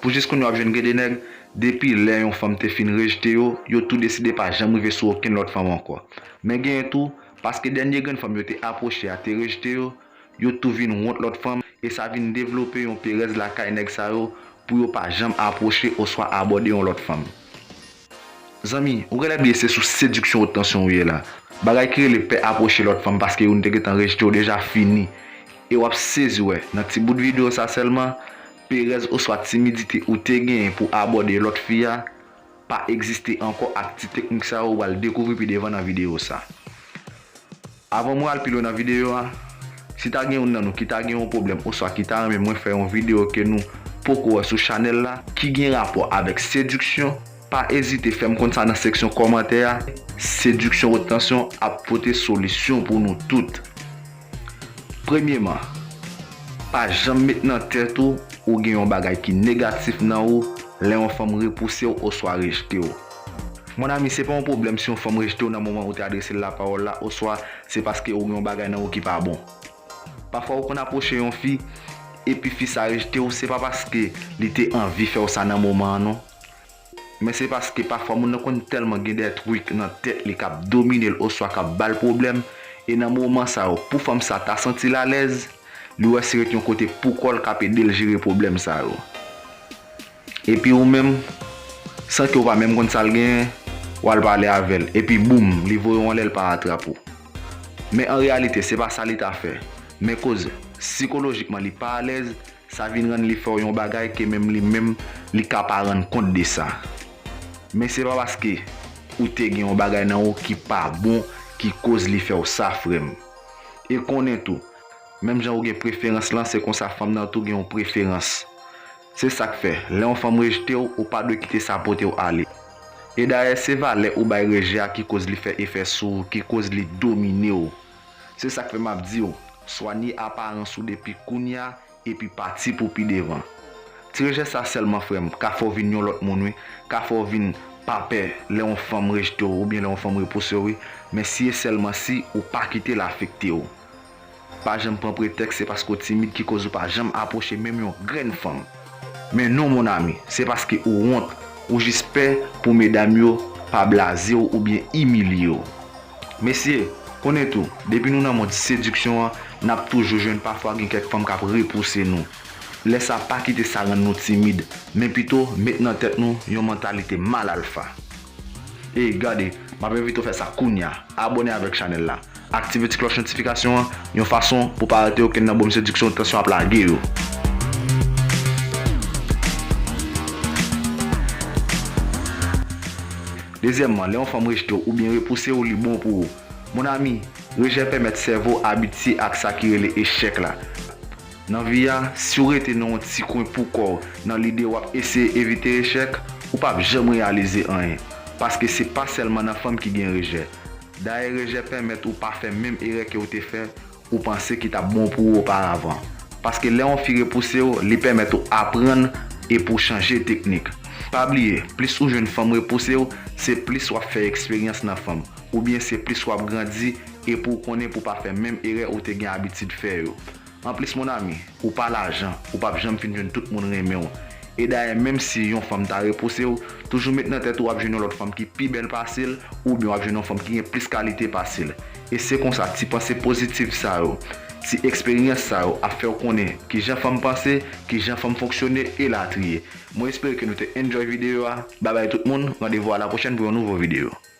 Pou jis kounye a w ap jwenn gen de nèg, depi lè yon fanm te fin rejte yo, yo tou deside pa janm rive sou okenn lòt fanm ankò. Men genyen tou, paske dènye grenn fanm yo te apwoche a te rejte yo, yo tou vin wont lòt fanm, e sa vin devlope yon perèz lakay nèg sa yo pou yo pa janm apwoche oswa abòde yon lòt fanm. Zanmi, ou genlè bliye se sou sediksyon wot tansyon ou ye la. Bagay ki rele pè apwoche lòt fanm paske youn te gentan rejte w deja fini, e w ap sezi wè, nan ti bout videyo sa sèlman, Perèz oswa timidite ou te genyen pou abòde lòt fi a pa egziste ankò ak ti teknik sa yo ou pral dekouvri pi devan nan videyo sa. Avan mwen al pi lwen nan videyo a, si ta gen youn nan nou ki ta gen yon pwoblèm oswa ki ta renmen mwen fè yon videyo ke nou poko wè sou chanèl la, ki gen rapò avèk sediksyon, pa ezite fè m konn sa nan seksyon kòmantè a, Sediksyon Wot Tansyon ap pote solisyon pou nou tout. Premyeman, pa janm met nan tèt ou ou gen yon bagay ki negatif nan ou lè yon fanm repouse w oswa rejte w. Mon ami, se pa yon pwoblèm si yon fanm rejte w nan moman ou te adrese l lapawòl la oswa se paske ou gen yon bagay nan ou ki pa bon. Pafwa ou konn apwoche yon fi, epi fi sa rejte w, se pa paske li te anvi fè w sa nan moman an non. Men se paske pafwa moun nan konn tèlman gen dè truc nan tèt li kap dominel oswa kap bal pwoblèm e nan moman sa yo pou fanm sa ta santil alèz li wè si ret yon kote poukòl kap edel jere pwoblèm sa yo epi ou menm san ke ou pa menm konn sal genyen wal pale avèl epi boum li voye w anlè l pa atrap ou men an reyalite se pa sa li ta fè men koz sikolojikman li pa alèz Sa vin rann li fè w yon bagay ke menm li menm li ka pa rann kont de sa. Men se pa paske ou te gen yon bagay nan ou ki pa bon ki koz li fè w sa frè m. E konnen tou, menm jan ou gen preferans lan se konsa fanm nan tou gen yon preferans. Se sa k fè, lè yon fanm rejte w, ou pa dwe kite sa pote w ale. E dayè se valè ou bay rejè a ki koz li fè efè sou ou, ki koz li domine w. Se sak fè map diw swanye aparans ou depi kounya epi pati pou pi devan. Ti rejè sa sèlman frèm ka fèw vin yon lòt moun wi, ka fèw vin pa pè lè yon fanm rejtew oubyen lè yon fanm repousew wi, men si e sèlman si ou pa kitel afektew. Pa janm pran pretèks se paske w timid ki koz ou pa janm apwoche menm yon grenn fanm. Men non mon ami, se paske ou wont, ou jis pè pou medam yo pa blaze w oubyen imilye w. Mesye, konnen tou, depi nou nan mond sediksyon an, n ap toujou jwenn pafwa gen kèk fanm k ap repouse nou. Lè sa pa kite sa rann nou timid, men pito met nan tèt nou yon mantalite mal alfa. Ey gade, map envite w fè sa kounya, abòne avèk chanèl la, aktive ti klòch notifikasyon an yon fason pou w pa rate okenn nan bonm sediksyon Tansyon ap lage yo. Dezyèmman, lè yon fanm rejte w oubyen repouse w li bon pou ou. Mon ami, rejè pèmèt sèvo abitye ak sa ki rele echèk la. Nan vi a, si w rete nan yon ti kwen pou kò w nan lide w ap eseye evite echèk, ou pap janm reyalize anyen. Paske se pa sèlman nan fanm ki gen rejè. Dayè rejè pèmèt ou pa fè menm erè ke w te fè ou panse ki t ap bon pou ou oparavan. Paske lè yon fi repouse w, li pèmèt ou aprann e pou w chanje teknik. Pa bliye, plis ou jwenn fanm repouse w, se plis w ap fè eksperyans nan fanm, oubyen se plis w ap grandi e pou w konnen pou w pa fè menm erè ou te gen abitid fè yo. Anplis mon ami, ou pa lajan, ou pap janm fin jwenn tout moun renmenw. E dayè menm si yon fanm ta repousew, toujou met nan tèt ou wap jwenn yon lòt fanm ki pi bèl pase'l oubyen wap jwenn yon fanm ki gen plis kalite pase'l. E se konsa ti panse pozitif sa yo, ti eksperyans sa yo ap fèw konnen kijan fanm panse, kijan fanm fonksyone e latriye. Mwen espere ke nou te enjoy videyo a. Babay tout moun, randevou a la pwochèn pou yon nouvo videyo.